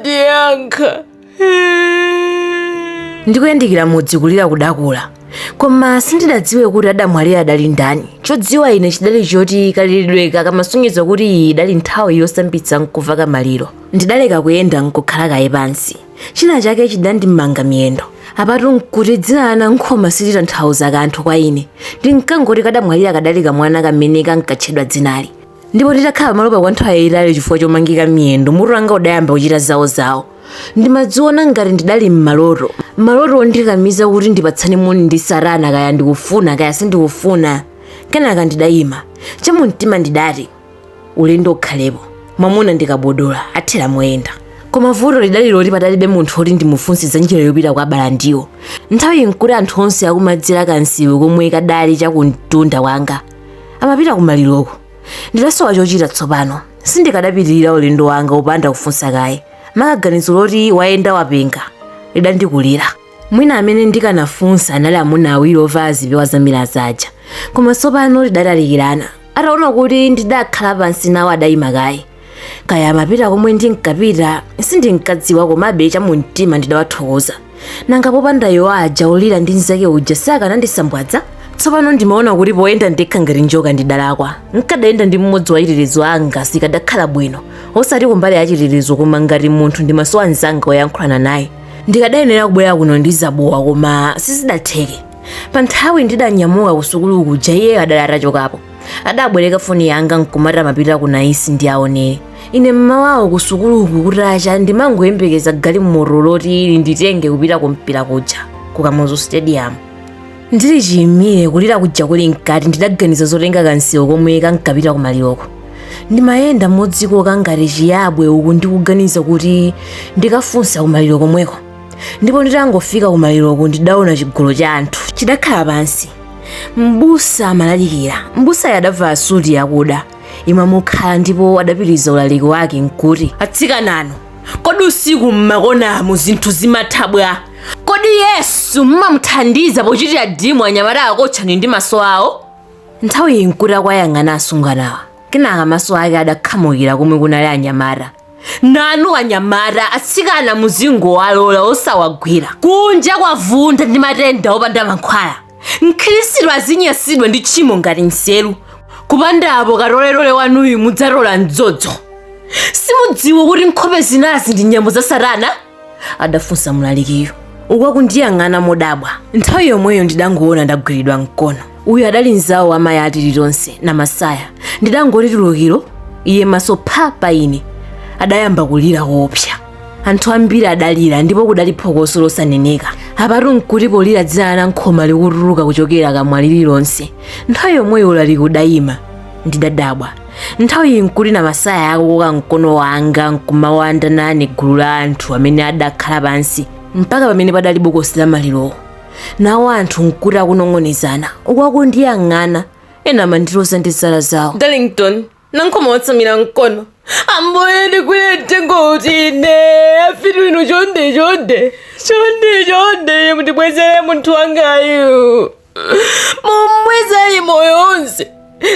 ndiyankha ndikuyandikira mudzi kulira kudakula koma sindidadziwe kuti adamwalira adali ndani chodziwa ine chidali choti kaliridweka kamasonyeza kuti iyi idali nthawi yosambitsa nkuveka maliro ndidaleka kuyenda nkukhala kaye pansi china chake chidandimanga miyendo apatu nkuti dzina la anankhoma silitanthauza kanthu kwa ine ndinkangoti kadamwalira kadali kamwana kamene kankatchedwa dzinali ndipo nditakhala pamalopa kwa nthawi yayitali chifukwa chomangika miyendo mutu wanga udayamba kuchita zawozawo ndimadziona ngati ndidali m'maloto maloto ondikakamiza kuti ndipatsane moni ndi satana kaya ndikufuna kaya sindikufuna kenaka ndidayima chamumtima ndidati ulendo ukhalepo mwamuna ndi kabudula athera moyenda koma vuto lidali loti padalibe munthu oti ndimufunse za njira yopita kwa balandiwo nthawiyi nkuti anthu onse akumadzera kansewu komwe kadali chakumtunda kwanga amapita kumaliroko ndidasowa chochita tsopano sindikadapitirira ulendo wanga opanda kufunsa kaye maka ganizo loti wayenda wapenga lidandikulira mwina amene ndikanafunsa anali amuna awiri ovala zipewa zamilaza aja koma tsopano tidatalikirana ataona kuti ndidakhala pansi nawo adayima kaye kaya amapita komwe ndinkapita sindinkadziwa komabe chamumtima ndidawathokoza nanga popanda iwo aja olira ndi mnzake uja sakanandisambwadza tsopano ndimaona kuti poyenda ndekha ngati njoka ndidalakwa nkadayenda ndi mmodzi wa achitetezo anga zikadakhala bwino osati kumbali ya chitetezo koma ngati munthu ndimasowa mnzanga woyankhulana naye ndikadayenera kubwera kuno ndi zabowa koma sizidatheke pa nthawi ndidanyamuka kusukulu kuja iye adali atachokapo adabwereka foni yanga nkumati amapita ku naisi ndi aonere ine mmawawo kusukuluku kutacha ndimangoyembekeza galimoto loti linditenge kupita kumpira kuja ku kamuzu stadium ndili chiyimire kulira kuja kuli mkati ndidaganiza zotenga kansewu komwe kankapita kumaliroko ndimayenda modzikoka ngati chiyabwe uku ndikuganiza kuti ndikafunsa kumaliro komweko ndipo nditangofika kumaliroko ndidaona chigulu cha anthu chidakhala pansi mbusa amalalikira mbusayo adavala suti yakuda imamukhala ndipo adapitiriza ulaliki wake nkuti atsikananu kodi usiku mmakonamu zinthu zimatha bwa kodi yesu mmamuthandiza pochitira dimu anyamata akotchani ndi maso awo nthawi iyi nkuti akuwayang'ana asungwanawa kenaka maso ake adakhamukira komwe kunali anyamata nanu anyamata atsikana muzingowalola osawagwira kunja kwavunda ndi matenda opanda mankhwala mkhristu azinyasidwa ndi tchimo ngati nseru kupanda apo katoletole wanuyu mudzatola mdzodzo simudziwa kuti nkhope zinazi ndi nyambo za satana adafunsa mlalikiyo uku akundiyang'ana modabwa nthawi yomweyo ndidangoona ndagwiridwa mkono uyu adali mzawo wa mayi atilitonse namasaya ndidangoti tulukiro iye maso pha pa ine adayamba kulira koopsa anthu ambiri adalira ndipo kudali phokoso losaneneka apatu nkuti polira dzina la nankhoma likutuluka kuchokera kamwa lililonse nthawi yomweyo ulaliki udayima ndidadabwa nthawi iyi nkuti namasaya akukoka mkono wanga nkumawanda nane gulu la anthu amene adakhala pansi mpaka pamene padali bokosi la malirowo nawo anthu nkuti akunong'onezana uku akundiyang'ana ena amandiloza ndi zala zawo darlington nankhoma watsamira mkono ambuye ndigwire mtengo uti ine afiti inu chonde chonde chonde chonde mundibwezere munthu wangayu mumbwezere moyo wonse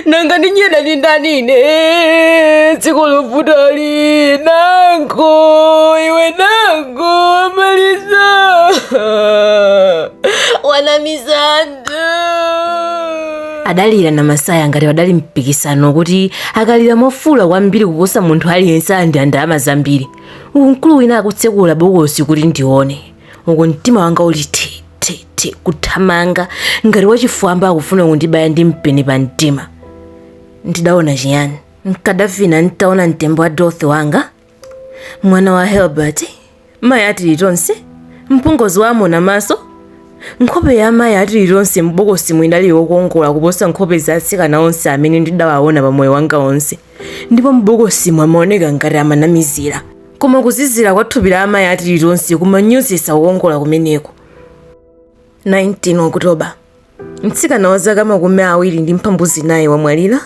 nanga ndinyeda ndi ndani ine dziko lovutali nankho iwe nankho amaliza wanamizani adalira namasaya ngati padali mpikisano kuti akalira mofuula kwambiri kuposa munthu aliyense alandira ndalama zambiri uku mkulu wina akutsekula bokosi kuti ndione uku mtima wanga uli thi thi thi kuthamanga ngati wachifwamba akufuna kundibaya ndi mpeni pa mtima ndidaona chiyani nkadafa ine ntaona mtembo wa dorothy wanga mwana wa helbert mayi atilitonse mpongozi wa amonamaso nkhope ya mayi atilitonse m'bokosimo idali yokongola kuposa nkhope za atsikana onse amene ndidawaona pa moyo wanga onse ndipo m'bokosimo amaoneka ngati amanamizira koma kuzizira kwa thupi la amayi atilitonse kumanyozetsa kukongola kumeneko 19 okutoba Mtsikana wa zaka makumi awiri ndi mphambu zinayi wamwalira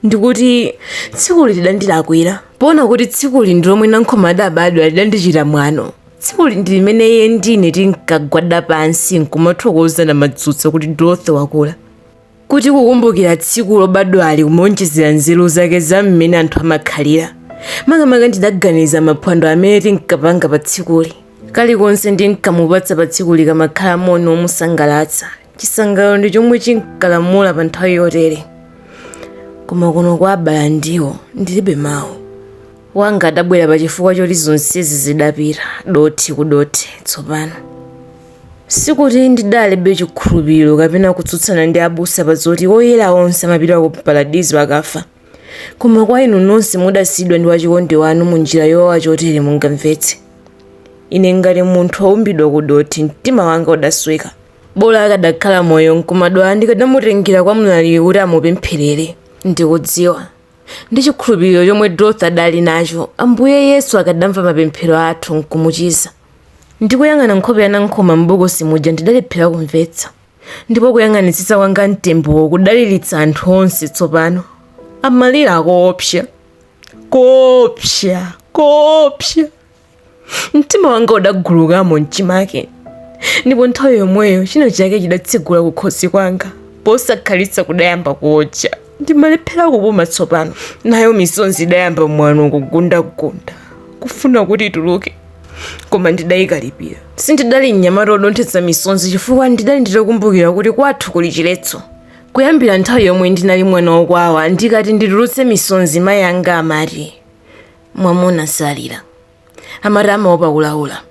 ndikuti tsikuli lidandilakwira poona kuti tsikuli ndi lomwe nankhoma adabadwa lidandichita mwano tsikuli ndi limene iye ndi ine tinkagwada pansi nkumathokoza namadzutsa kuti dorothy wakula kuti kukumbukira tsiku lobadwali kumaonjezera nzeru zake za mmene anthu amakhalira makamaka ndidaganiza maphwando amene tinkapanga pa tsikuli Kalikonse ndinkamupatsa pa tsikuli kamakhala moni womusangalatsa. Chisangalalo ndi chomwe chinkalamula pa nthawi yotere. Koma kuno kwa abala ndiwo ndilibe mawu. Wanga adabwera pa chifukwa choti zonsezi zidapita dothi ku dothi tsopano. Sikuti ndidalibe chikhulupiriro kapena kutsutsana ndi abusa pa zoti oyera onse amapita ku Paradizo akafa. Koma kwa inu nonse mudasiyidwa ndi wachikondi wanu mu njira yowawa chotere mungamvetse. Ine ngati munthu waumbidwa ku dothi mtima wanga udasweka. Bola akadakhala moyo nkumadwala ndikadamutengera kwa mlaliki kuti amupempherere. Ndikudziwa, ndi chikhulupiriro chomwe Dorothy adali nacho, Ambuye Yesu akadamva mapemphero athu nkumuchiza. Ndikuyang'ana nkhope ya Nankhoma m'bokosi muja ndidalephera kumvetsa. Ndipo kuyang'anitsitsa kwanga mtembowo kudaliritsa anthu onse tsopano. Amalira koopsa, koopsa, koopsa. Mtima wanga udagulukamo mchimake, ndipo nthawi yomweyo china chake chidatsegula kukhosi kwanga, posakhalitsa kudayamba kuotcha. ndimalephera kupuma tsopano nayo misonzi idayamba mwano kugunda kugunda kufuna kuti ituluke koma ndidayikalipira sindidali mnyamata odonthetsa misonzi chifukwa ndidali nditakumbukira kuti kwathu kuli chiletso kuyambira nthawi yomwe ndinali mwana wokwawa ndikati nditulutse misonzi mayi anga amati mwamuna salira amati amaopa kulaula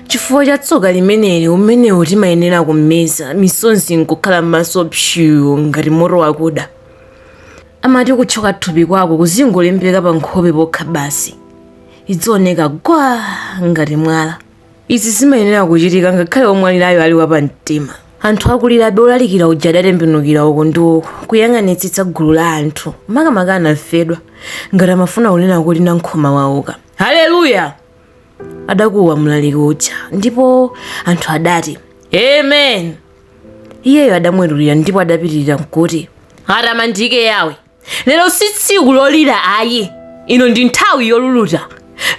chifukwa cha tsoka limeneli umenewu timayenera kumeza misonzi nkukhala m'maso pshu ngati moto wakuda amati kutchoka thupi kwako kuzingolembeka pa nkhope pokha basi idzioneka gwa ngati mwala izi zimayenera kuchitika ngakhale omwalirayo ali wapamtima anthu akulirabe olalikira uja adatembenukira uko ndi uko kuyang'anitsitsa gulu la anthu makamaka anamfedwa ngati amafuna kunena kuti nankhoma wauka haleluya adakuwa mlaliki uja ndipo anthu adati amen iyeyo adamwetulira ndipo adapitirira nkuti atamandike yawe lero si tsiku lolira ayi ino ndi nthawi yoluluta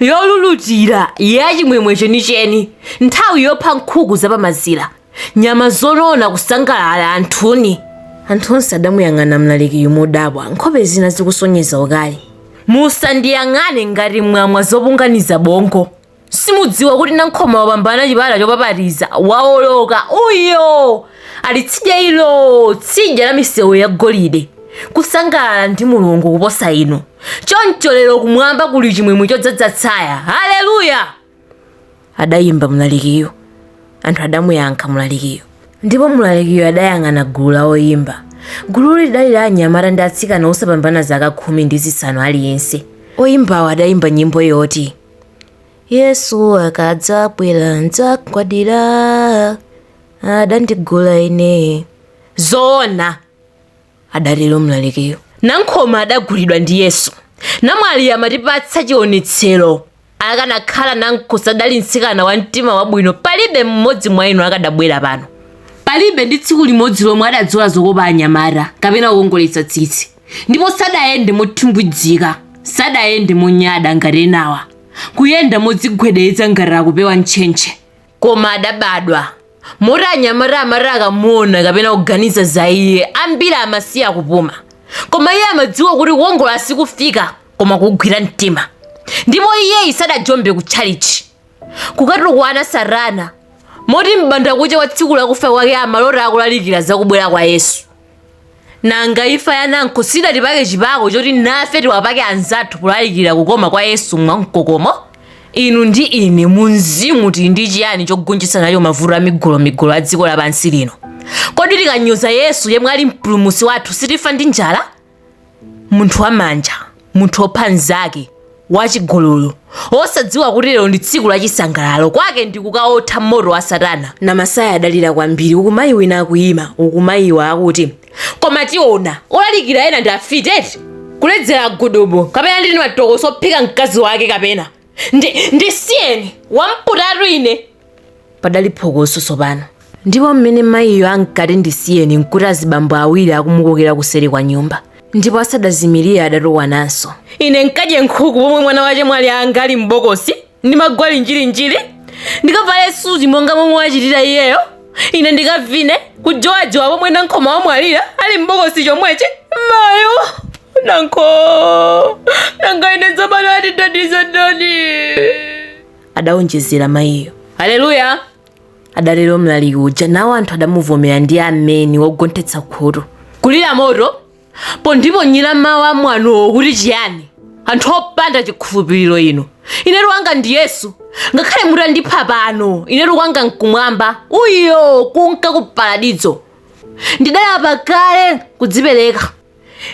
yolulutira ya chimwemwe chenicheni nthawi yopha nkhuku zapamazira nyama zonona kusangalala anthuni anthu onse adamuyang'ana mlalikiyu modabwa nkhope zina zikusonyeza ukali musandiyang'ane ngati mwamwa zopunganiza bongo simudziwa kuti nankhoma wapambana chipata chopapatiza waoloka uyo ali tsidya ilo tsidya la misewu ya golide kusangalala ndi mulungu kuposa inu choncho lero kumwamba kuli chimwemwe chodzadza tsaya haleluya adayimba mlalikiyo anthu adamuyankha mlalikiyo ndipo mlalikiyo adayang'ana gulu la oyimba gulu lidali la anyamata ndi atsikana osapambana zaka khumi ndi zisanu aliyense oyimbawo adayimba nyimbo yoti yesu akadzabwera ndzagwadira adandigula ine zoona adatero mlalikiyo nankhoma adagulidwa ndi yesu namwali amatipatsa chionetsero akanakhala nankhoma sadali mtsikana wa mtima wabwino palibe mmodzi mwa inu akadabwera pano palibe ndi tsiku limodzi lomwe adadzola zokopa anyamata kapena kukongoletsa tsitsi ndipo sadayende mothimbwidzika sadayende monyada ngati enawa kuyenda modzigwedeza ngati akupewa ntchentche koma adabadwa moti anyamata amati akamuona kapena kuganiza za iye ambiri amasiya kupuma koma iye amadziwa kuti kukongola sikufika koma kugwira mtima ndipo iyeyu sadajombe ku tchalitchi kukatukwana satana moti m'banda kucha wa tsiku lakufa kwake amalota akulalikira zakubwera kwa yesu nanga imfa ya nankho sidatipake chipako choti nafe tiwapake anzathu kulalikira kukoma kwa yesu mwamkokomo inu ndi ine mumzimu tili ndi chiyani chogonjetsa nacho mavuto amigolomigolo a dziko lapansi lino kodi tikanyoza yesu yemwe ali mpulumutsi wathu sitifa ndi njala munthu wamanja munthu wopha mnzake wachigololo wosadziwa kuti lero ndi tsiku la chisangalalo kwake ndi kukaotha moto wa satana namasiya adalira kwambiri uku mayi wina akuyimba uku mayiwa akuti koma tiona olalikira ena ndi afiti eti kuledzera gudubu kapena ndini matokoso wophika mkazi wake kapena ndi ndisiyeni wamputatu ine Padali phokoso tsopano, ndipo mmene mayiyo ankati ndisiyeni nkuti azibambo awiri akumukokera kuseri kwa nyumba, ndipo asadazimirie adatukwananso. Ine ndikadye nkhuku pomwe mwana wa chemwali anga ali m'bokosi, ndi magoli njirinjiri, ndikavale suti monga momwe wachitira iyeyo, ine ndikavine, kujowajowa pomwe Nankhoma wamwalira ali m'bokosi chomwechi. Mayo! Nankho! Nanga ine tsopano andithandize ndani? adaonjezera mayiyo haleluya adatero mlaliki uja nawo anthu adamuvomera ndi ameni wogonthetsa khutu kulira motopo ndi kuponyera mawu a mwanowo kuti chiyani anthu opanda chikhulupiriro inu inetu wanga ndi yesu ngakhale mutandipha pano inetu kwanga nkumwamba uyo kunka ku paradizo ndidalapa kale kudzipereka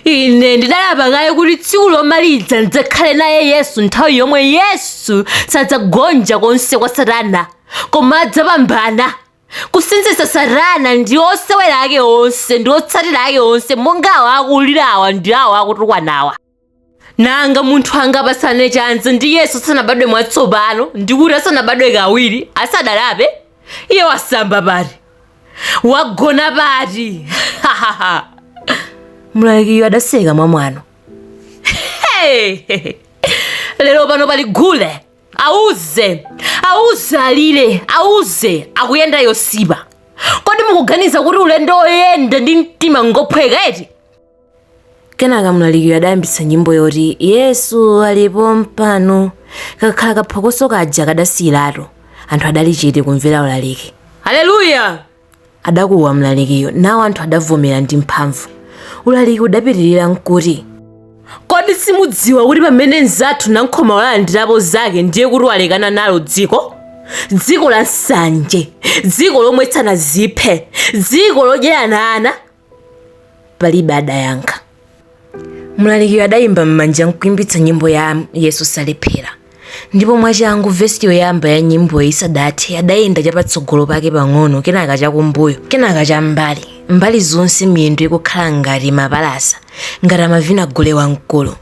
ine ndidalapa kale kuti tsiku lomaliza ndidzakhale naye yesu nthawi yomwe yesu sadzagonja konse kwa satana koma adzapambana kusinzitsa satana ndi osewera ake onse ndi otsatira ake onse monga awo akulirawa ndi awo akutukwanawa nanga munthu angapatsane chanza ndi yesu asanabadwe mwatsopano ndi kuti asanabadwe kawiri asadalape iye wasamba pati wagona pati mlalikiyo adaseka mwamwano Hey! lero pano pali gule auzeni auzeni alire auzeni akuyenda yosipa kodi mukuganiza kuti ulendo woyenda ndi mtima ngophweka eti kenaka mlalikiyo adayambitsa nyimbo yoti yesu ali pompano kakhala kaphokoso kaja kadasiyiratu anthu adali chete kumvera ulaliki haleluya adakuwa mlalikiyo nawo anthu adavomera ndi mphamvu ulaliki udapitirira nkuti kodi simudziwa kuti pamene mzathu nankhoma walandirapo zake ndiye kuti walekana nalo dziko dziko la nsanje dziko lomwetsana ziphe dziko lodyerana ana palibe adayankha mlalikiyo adayimba m'manja nkuyimbitsa nyimbo ya yesu salephera ndipo mwachangu vesi yoyamba ya nyimbo isadathe adayenda chapatsogolo pake pang'ono kenaka chakumbuyo kenaka cham'mbali mbali zonse miyendo ikukhala ngati mapalasa ngati amavina gule wamkulu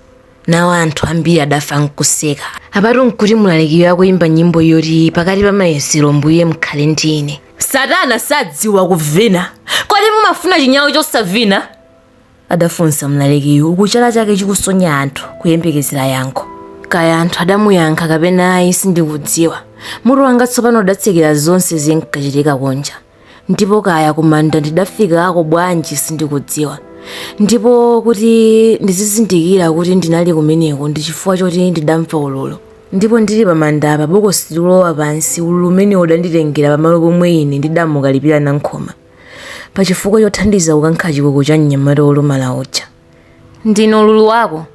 nawo anthu ambiri adafa nkuseka apatu nkuti mlalikiyo akuyimba nyimbo yoti pakati pa mayesero mbuye mkhale ndi ine satana sadziwa kuvina kodi mumafuna chinyawu chosavina adafunsa mlalikiyo uku chala chake chikusonya anthu kuyembekezera yankho kaya anthu adamuyankha kapena ayi sindikudziwa mutu wanga tsopano udatsekera zonse zinkachitika kunja ndipo kaya kumanda ndidafikako bwanji sindikudziwa ndipo kuti ndizizindikira kuti ndinali kumeneko ndi chifukwa choti ndidamva ululu ndipo ndili pamanda apa bokosi likulowa pansi ululu umene udanditengera pamalo pomwe ine ndidamukalipira nankhoma pa chifukwa chothandiza kukankha chikuku cha mnyamata wolumala uja ndine ululu wako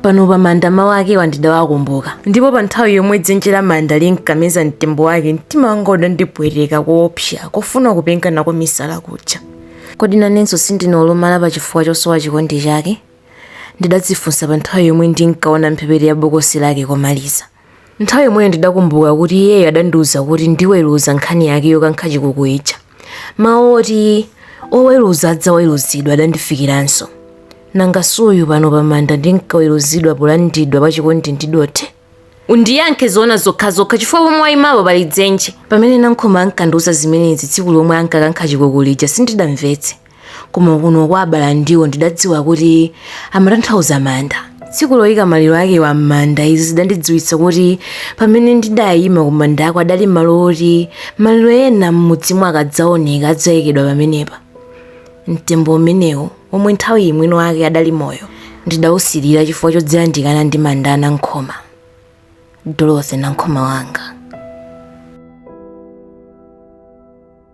pano pa manda mawu akewa ndidawakumbuka ndipo pa nthawi yomwe dzenje la manda linkameza mtembo wake mtima wanga udandipweteka koopsa kofuna kupenga nako misala kuja kodi nanenso sindine olumala pa chifukwa chosowa chikondi chake ndidadzifunsa pa nthawi yomwe ndinkaona mphepete ya bokosi lake komaliza Nthawi yomweyo ndidakumbuka kuti iyeyo adandiuza kuti ndiweruza nkhani yake yokankha chikuku ija. Mawu oti oweruza adzaweruzidwa adandifikiranso. Nanga suyu pano pamanda ndinkaweruzidwa polandidwa pachikondi ndi dothi? Undiyankhe zoona zokhazokha chifukwa pomwe waimapo pali dzenje. Pamene Nankhoma ankandiuza zimenezi tsiku lomwe ankakankha chikuku lija sindidamvetse. koma kuno kwa abalandiwo ndidadziwa kuti amatanthauza manda tsiku loyika maliro akewa m'manda izi zidandidziwitsa kuti pamene ndidayima kumandako adali malo oti maliro ena m'mudzimo akadzaoneka adzayikidwa pamenepa mtembo umenewo womwe nthawiyi mwini wake adali moyo ndidawusirira chifukwa chodzayandikana ndi manda a nankhoma dorothy nankhoma wanga